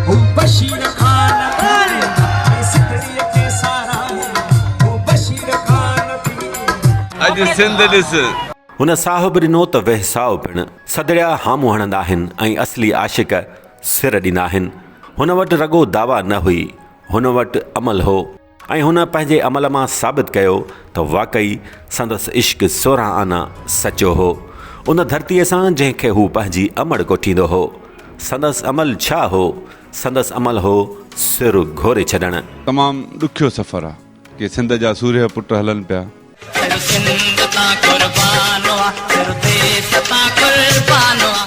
هو بشير خان ٿي ۽ سنڌڙيء کي ساراهي هو بشير خان ٿي. اڄ سنڌ ڏس. هن ساهب ڏنو ته ويساء پڻ. سڌڙيا هامون هڻندا آهن ۽ اصلي عاشق سر ڏيندا آهن. هن وٽ رڳو دعويٰ نه هئي، هن وٽ عمل هو. ۽ هن پنهنجي عمل مان ثابت ڪيو ته واقعي سندس عشق سورهن آنا سچو هو، ان ڌرتيء سان جنهن کي هو پنهنجي امڙ ڪوٺيندو هو. سندس عمل ڇا هو؟ سندس عمل هو سر گهوري ڇڏڻ. تمام ڏکيو سفر آ. ڪي سنڌ جا سورهيه پٽ هلن پيا.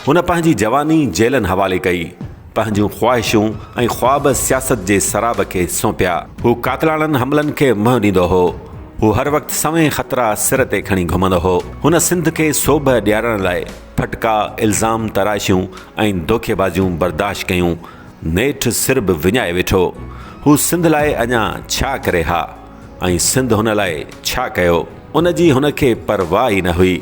هن پنهنجي جواني جيلن حوالي ڪئي، پنهنجون خواهشون ۽ خواب سياست جي سراب کي سونپيا. هو قاتلاڻن حملن کي منهن ڏيندو هو. هو هر وقت سوين خطرا سر تي کڻي گهمندو هو. هن سنڌ کي سوڀ ڏيارڻ لاء ڦٽڪا، الزام تراشيون ۽ دوکي بازيون برداشت ڪيون. نيٺ سر به وڃائي ويٺو. هو سنڌ لاء اڃا ڇا ڪري ها؟ ۽ سنڌ هن لاء ڇا ڪيو، ان جي هن کي پرواهه ئي نه هئي.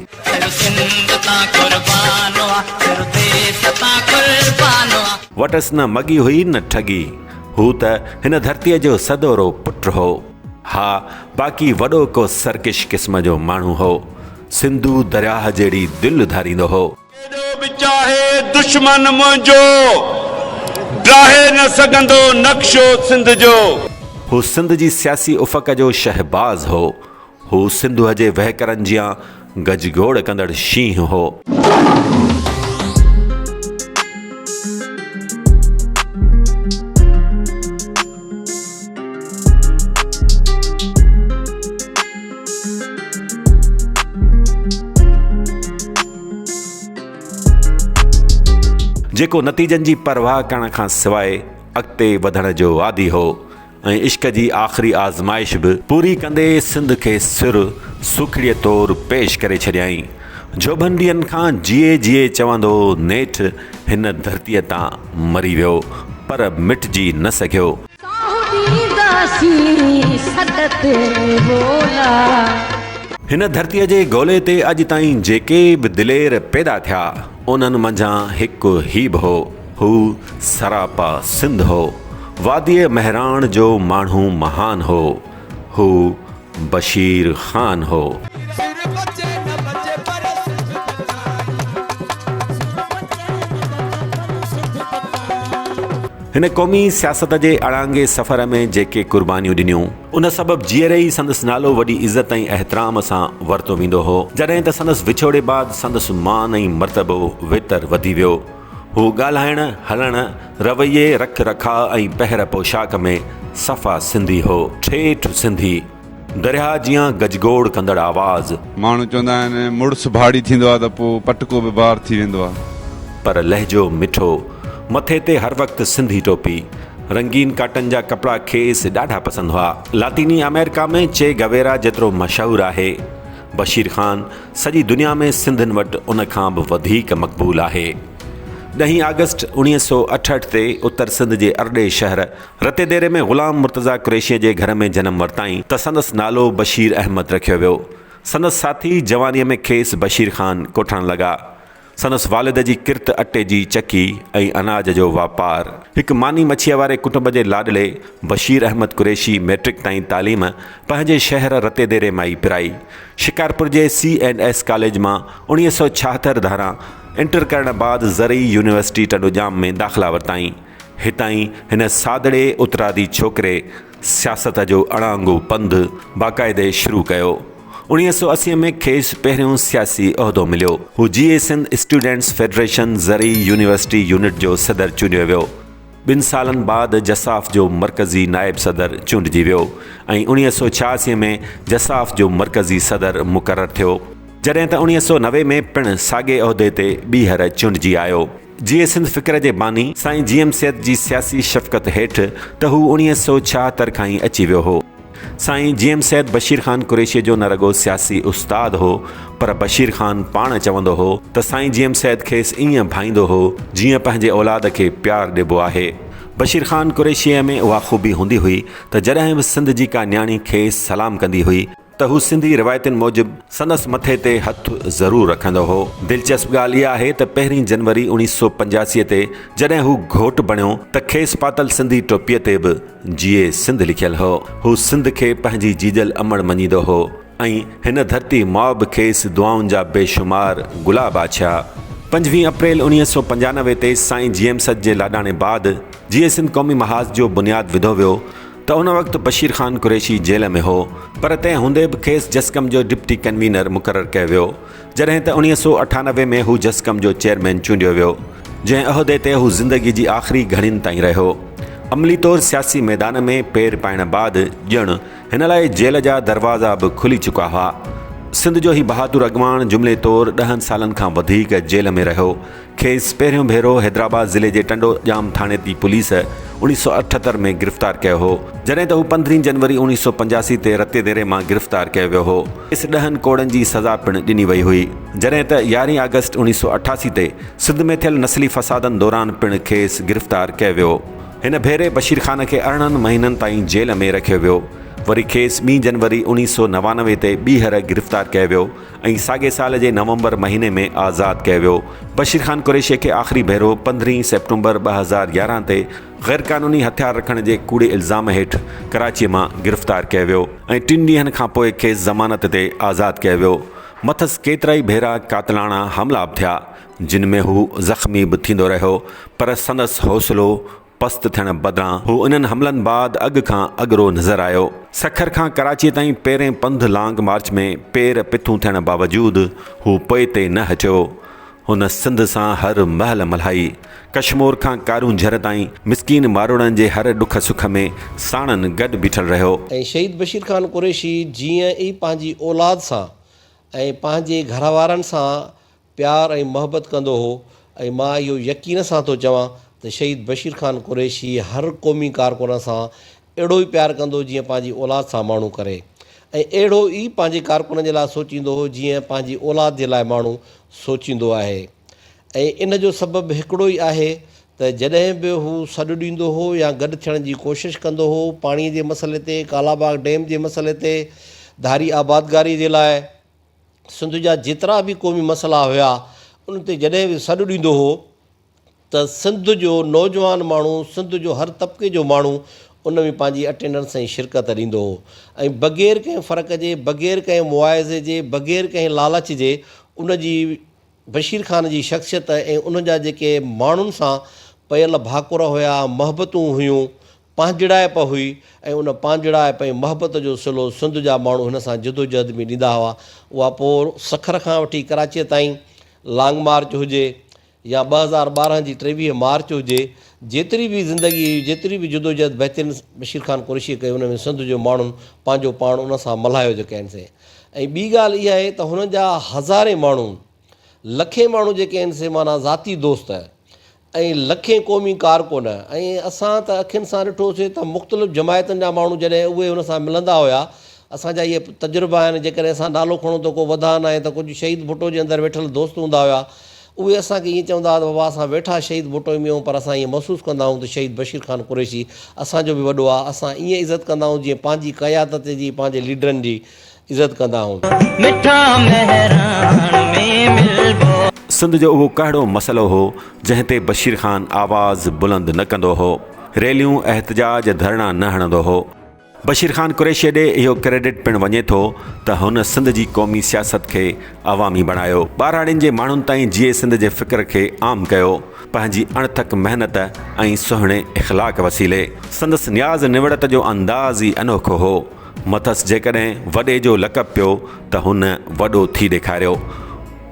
وٽس نه مڳي هئي نه ٺڳي. هو ته هن ڌرتيء جو سدورو پٽ هو. ها، باقي وڏو ڪو سرڪش قسم جو ماڻهو هو. سنڌو درياهه جهڙي دل اڌاريندو هو. ڪيڏو به چاهي دشمن منهنجو. ڊاهي نه سگهندو نقشو سنڌ جو. هو سنڌ جي سياسي افق جو شهباز هو. هو سنڌوء جي وهڪرن جيان گجگوڙ ڪندڙ شينهن هو. جيڪو نتيجن جي پرواهه ڪرڻ کان سواء اڳتي وڌڻ جو عادي هو ۽ عشق جي آخري آزمائش به پوري ڪندي سنڌ کي سر سوکڙيء طور پيش ڪري ڇڏيائين. جوڀن ڏينهن کان جيئي جيئي چوندو نيٺ هن ڌرتيء تان مري ويو پر مٽجي نه سگهيو. ڪاهو ڏينداسين سڏ تي ٻولا. هن ڌرتيء جي گولي تي اڄ تائين جيڪي به دلير پيدا ٿيا، انهن منجهان هڪ هي به هو. هو سراپا سنڌ هو. واديء مهراڻ جو ماڻهو مهان هو. هو بشير خان هو. هن قومي سياست جي اڙانگي سفر ۾ جيڪي قربانيون ڏنيون، ان سبب جيئري ئي سندس نالو وڏي عزت ۽ احترام سان ورتو ويندو هو، جڏهن ته سندس وڇوڙي بعد سندس مان ۽ مرتبو ويتر وڌي ويو. هو ڳالهائڻ، هلڻ، رويي، رک رکاء ۽ پهر پوشاڪ ۾ صفا سنڌي هو. ٺيٺ سنڌي. درياهه جيان گجگوڙ ڪندڙ آواز. ماڻهو چوندا آهن مڙس ڀاڙي ٿيندو آهي ته پوء پٽڪو به بار ٿي ويندو آهي. پر لهجو مٺو. مٿي تي هر وقت سنڌي ٽوپي. رنگين ڪاٽن جا ڪپڙا کيس ڏاڍا پسند هئا. لاطيني آمريڪا ۾ چي گويرا جيترو مشهور آهي. بشير خان سڄي دنيا ۾ سنڌين وٽ ان کان به وڌيڪ مقبول آهي. ڏهين آگسٽ اوڻيهه سؤ اٺهٺ تي اتر سنڌ جي ارڏي شهر رتي ديري ۾ غلام مرتضيٰ قريشيء جي گهر ۾ جنم ورتائين ته سندس نالو بشير احمد رکيو ويو. سندس ساٿي جوانيء ۾ کيس بشير خان ڪوٺڻ لڳا. سندس والد جي ڪرت اٽي جي چڪي ۽ اناج جو واپار. هڪ ماني مڇيء واري ڪٽنب جي لاڏلي بشير احمد قريشي مئٽرڪ تائين تعليم پنهنجي شهر رتيديري مان ئي پرائي. شڪارپور جي سي اينڊ ايس ڪاليج مان اڻويهه سؤ ڇاهتر ڌاران انٽر ڪرڻ بعد زرعي يونيورسٽي ٽنڊوڄام ۾ داخلا ورتائين. هتان ئي هن سادڙي اترادي ڇوڪري، سياست جو اڻانگو پنڌ باقاعدي شروع ڪيو. اوڻيهه سؤ اسي ۾ کيس پهريون سياسي عهدو مليو. هو جي اي سنڌ اسٽوڊنٽس فيڊريشن زرعي يونيورسٽي يونٽ جو صدر چونڊيو ويو. ٻن سالن بعد جساف جو مرڪزي نائب صدر چونڊجي ويو ۽ اوڻيهه سؤ ڇهاسي ۾ جساف جو مرڪزي صدر مقرر ٿيو. جڏهن ته اوڻيهه سؤ نوي ۾ پڻ ساڳئي عهدي تي ٻيهر چونڊجي آيو. جيئي سنڌ فڪر جي باني سائين جي ايم سيد جي سياسي شفقت هيٺ ته هو اڻيهه سؤ ڇاهتر کان ئي اچي ويو هو. سائين جي ايم سيد بشير خان قريشيء جو نه رڳو سياسي استاد هو پر بشير خان پاڻ چوندو هو ته سائين جي ايم سيد کيس ائين ڀائيندو هو جيئن پنهنجي اولاد کي پيار ڏبو آهي. بشير خان قريشيء ۾ اها خوبي هوندي هئي ته جڏهن به سنڌ جي ڪا نياڻي کيس سلام ڪندي هئي ته هو سنڌي روايتن موجب سندس مٿي تي هٿ ضرور رکندو هو. دلچسپ ڳالهه اها آهي ته پهرين جنوري اوڻيهه سؤ پنجاسي تي جڏهن هو گهوٽ بڻيو ته کيس پاتل سنڌي ٽوپيء تي به جيئي سنڌ لکيل هو. هو سنڌ کي پنهنجي جيڄل امڙ مڃيندو هو ۽ هن ڌرتي ماء به کيس دعائن جا بي شمار گلاب آڇيا. پنجويهه اپريل اوڻيهه سؤ پنجانوي تي سائين جيئم سچ جي لاڏاڻي بعد جيئي سنڌ قومي محاذ جو بنياد وڌو ويو ته ان وقت بشير خان قريشي جيل ۾ هو پر تنهن هوندي به کيس جسقم جو ڊپٽي ڪنوينر مقرر ڪيو ويو جڏهن ته اوڻيهه سؤ اٺانوي ۾ هو جسقم جو چيئرمين چونڊيو ويو جنهن عهدي تي هو زندگي جي آخري گهڙين تائين رهيو عملي طور سياسي ميدان ۾ پير پائڻ بعد ڄڻ هن لاء جيل جا دروازا به کلي چڪا هئا سنڌ جو هي بهادر اڳواڻ جملي طور ڏهن سالن کان وڌيڪ جيل ۾ رهيو کيس پهريون ڀيرو حيدرآباد ضلعي جي ٽنڊو ڄام ٿاڻي تي پوليس اوڻيھ سؤ اٺهتر ۾ گرفتار ڪيو هو، جڏهن ته هو پندرهين جنوري اوڻيھ سؤ پنجاسي تي رتي ديري مان گرفتار ڪيو ويو هو. کيس ڏهن ڪوڙن جي سزا پڻ ڏني وئي هئي، جڏهن ته يارهين آگسٽ اوڻيھ سؤ اٺاسي تي سنڌ ۾ ٿيل نسلي فسادن دوران پڻ کيس گرفتار ڪيو ويو. هن ڀيري بشير خان کي ارڙهن مهينن تائين جيل ۾ رکيو ويو. وري کيس ٻي جنوري اوڻيھ سؤ نوانوي تي ٻيهر گرفتار ڪيو ويو، ۽ ساڳئي سال جي نومبر مهيني ۾ آزاد ڪيو ويو. بشير خان قريشي کي آخري ڀيرو پندرهين سيپٽمبر ٻه هزار يارهن تي غيرقانوني هٿيار رکڻ جي ڪوڙي الزام هيٺ ڪراچيء مان گرفتار ڪيو ويو ۽ ٽن ڏينهن کان پوء کيس ضمانت تي آزاد ڪيو ويو. مٿس ڪيترائي ڀيرا قاتلاڻا حملا به ٿيا، جن ۾ هو زخمي به ٿيندو رهيو، پر سندس حوصلو پست ٿيڻ بدران هو انهن حملن بعد اڳ کان اڳرو نظر آيو. سکر کان ڪراچيء تائين پيرين پنڌ لانگ مارچ ۾ پير پٿون ٿيڻ باوجود هو پوئتي نه هٽيو. هن سنڌ سان هر مهل ملهائي. ڪشمور کان ڪارون جھر تائين مسڪين ماروئڙن جي هر ڏک سک ۾ ساڻن گڏ بيٺل رهيو. ۽ شهيد بشير خان قريشي جيئن ئي پنهنجي اولاد سان ۽ پنهنجي گھروارن سان پيار ۽ محبت ڪندو هو ۽ مان اهو يقين سان ٿو چوان ته شهيد بشير خان قريشي هر قومي ڪارڪن سان اهڙو ئي پيار ڪندو جيئن پنهنجي اولاد سان ماڻهو ڪري ۽ اهڙو ئي پنهنجي ڪارڪنن جي لاء سوچيندو هو جيئن پنهنجي اولاد جي لاء ماڻهو سوچيندو آهي ۽ ان جو سبب هڪڙو ئي آهي ته جڏهن به هو سڏ ڏيندو هو يا گڏ ٿيڻ جي ڪوشش ڪندو هو پاڻي جي مسئلي تي ڪالاباغ ڊيم جي مسئلي تي ڌاري آبادگاري جي لاء سنڌ جا جيترا به قومي مسئلا هيا ان تي جڏهن به سڏ ڏيندو هو ته سنڌ جو نوجوان ماڻهو سنڌ جو هر طبقي جو ماڻهو ان ۾ پنهنجي اٽينڊنس ۽ شرڪت ڏيندو هو ۽ بغير ڪنهن فرق جي بغير ڪنهن مواعظي جي بغير ڪنهن لالچ جي ان جي بشير خان جي شخصيت ۽ ان جا جيڪي ماڻهن سان پيل ڀاڪر هيا محبتون هيون پانجڙائپ هئي ۽ ان پانجڙائپ ۽ محبت جو صلو سنڌ جا ماڻهو هن سان جدوجهد ۾ ڏيندا هئا. اها پور سکر کان وٺي ڪراچيء تائين، لانگ مارچ هجي يا ٻه هزار ٻارهن جي ٽيويهه مارچ هجي، جيتري به زندگي هئي، جيتري به جدوجهد بهترين بشير خان قريشيء ڪئي، ان ۾ سنڌ جو ماڻهن پنهنجو پاڻ ان سان ملهايو جو ڪين سي ۽ ٻي ڳالهه اها آهي ته هن جا هزارين ماڻهو، لکين ماڻهو جيڪي آهن سي معنيٰ ذاتي دوست، ۽ لکين قومي ڪارڪن ۽ اسان ته اکين سان ڏٺوسي ته مختلف جماعتن جا ماڻهو جڏهن اهي ان سان ملندا هيا اسان جا اهي تجربا آهن جيڪڏهن اسان نالو کڻون ته ڪو وڌا ناهي ته ڪجهه شهيد ڀٽو جي اندر ويٺل دوست هوندا هيا اهي اسان کي ائين چوندا هئا ته بابا اسان ويٺا شهيد ڀٽو ۾ آهيون پر اسان ائين محسوس ڪندا آهيون ته شهيد بشير خان قريشي اسان جو به وڏو آهي اسان ائين عزت ڪندا آهيون جيئن پنهنجي قيادت جي پنهنجي ليڊرن جي عزت ڪندا هون. مٺا مهراڻ ۾ ملبو. سنڌ جو اهو ڪهڙو مسئلو هو جنهن تي بشير خان آواز بلند نه ڪندو هو، ريليون، احتجاج، ڌرڻا نه هڻندو هو. بشير خان قريشيء ڏي اهو ڪريڊٽ پڻ وڃي ٿو ته هن سنڌ جي قومي سياست کي عوامي بڻايو، ٻهراڙين جي ماڻهن تائين جيئي سنڌ جي فڪر کي عام ڪيو، پنهنجي اڻٿڪ محنت ۽ سهڻي اخلاق وسيلي. سندس نياز نوڙت جو انداز ئي انوکو هو. مٿس جيڪڏهن وڏي جو لقب پيو ته هن وڏو ٿي ڏيکاريو.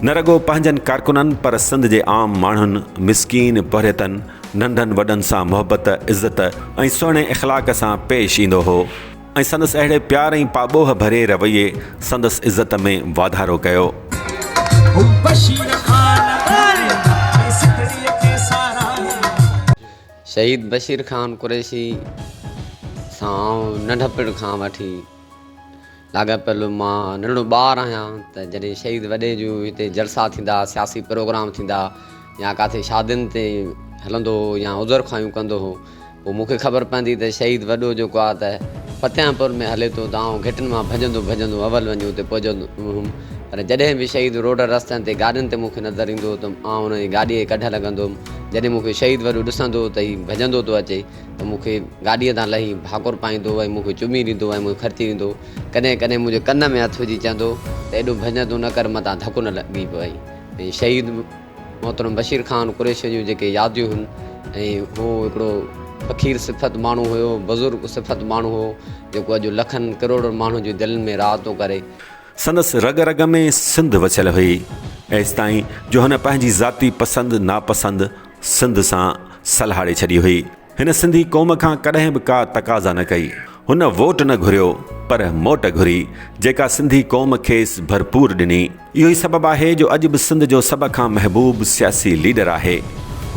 نه رڳو پنهنجن ڪارڪنن پر سنڌ جي عام ماڻهن، مسڪين پورهيتن، ننڍن وڏن سان محبت، عزت ۽ سهڻي اخلاق سان پيش ايندو هو ۽ سندس اهڙي پيار ۽ پاٻوهه ڀرئي رويي سندس عزت ۾ واڌارو ڪيو. شهيد بشير خان قريشي سان آئون ننڍپڻ کان وٺي لاڳاپيل مان ننڍو ٻار آهيان ته جڏهن شهيد وڏي جون هتي جلسا ٿيندا سياسي پروگرام ٿيندا يا ڪاٿي شادين تي هلندو هو يا عذر خواهيون ڪندو هو پوء مون کي خبر پوندي ته شهيد وڏو جيڪو آهي ته فتحيان پور ۾ هلي ٿو ته آئون گهٽن مان ڀڄندو ڀڄندو اول وڃي اتي پهچندو هوم پر جڏهن به شهيد روڊن رستن تي گاڏين تي مون کي نظر ايندو هو ته آئون انهن جي گاڏيء کي ڪڍڻ لڳندو هوم. جڏهن مون کي شهيد وڏو ڏسندو هو ته هي ڀڄندو ٿو اچي ته مون کي گاڏيء تان لهي ڀاڪر پائيندو هو ۽ مون کي چمي ڏيندو هو ۽ مون کي کرچي ڏيندو هو. ڪڏهن ڪڏهن منهنجي ڪن ۾ هٿ وجهي چوندو هو ته ايڏو ڀڄ تون نه ڪر متان ڌڪ نه لڳي پوي. ۽ شهيد محترم بشير خان قريشيء جون جيڪي ياديون هن ۽ هو هڪڙو فقير صفت ماڻهو هيو، بزرگ صفت ماڻهو هو، جيڪو اڄ لکن ڪروڙن ماڻهن جي دلين ۾ راحتون ڪري. سندس رڳ رڳ ۾ سنڌ وسيل هئي، ايستائين جو هن پنهنجي ذاتي پسند ناپسند سنڌ سان سلهاڙي ڇڏي هئي. هن سنڌي قوم کان ڪڏهن به ڪا تقاضا نه ڪئي. هن ووٽ نه گهريو، پر موٽ گهري، جيڪا سنڌي قوم کيس ڀرپور ڏني. اهو ئي سبب آهي جو اڄ به سنڌ جو سڀ کان محبوب سياسي ليڊر آهي.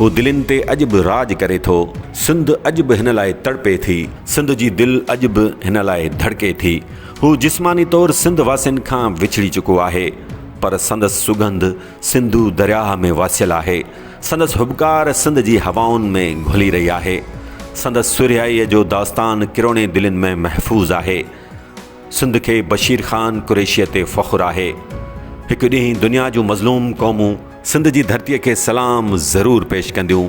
هو دلين تي اڄ به راڄ ڪري ٿو. سنڌ اڄ به هن لاء تڙپي ٿي. سنڌ جي دل اڄ به هن لاء ڌڙڪي ٿي. هو جسماني طور سنڌ واسين کان وڇڙي چڪو آهي، پر سندس سگنڌ سنڌو درياهه ۾ واسيل آهي، سندس هٻڪار سنڌ جي هوائن ۾ گهلي رهي آهي، سندس سرهيائيء جو داستان ڪروڙين دلين ۾ محفوظ آهي. سنڌ کي بشير خان قريشيء تي فخر آهي. هڪ ڏينهن دنيا جون مظلوم قومون سنڌ جي ڌرتيء کي سلام ضرور پيش ڪنديون.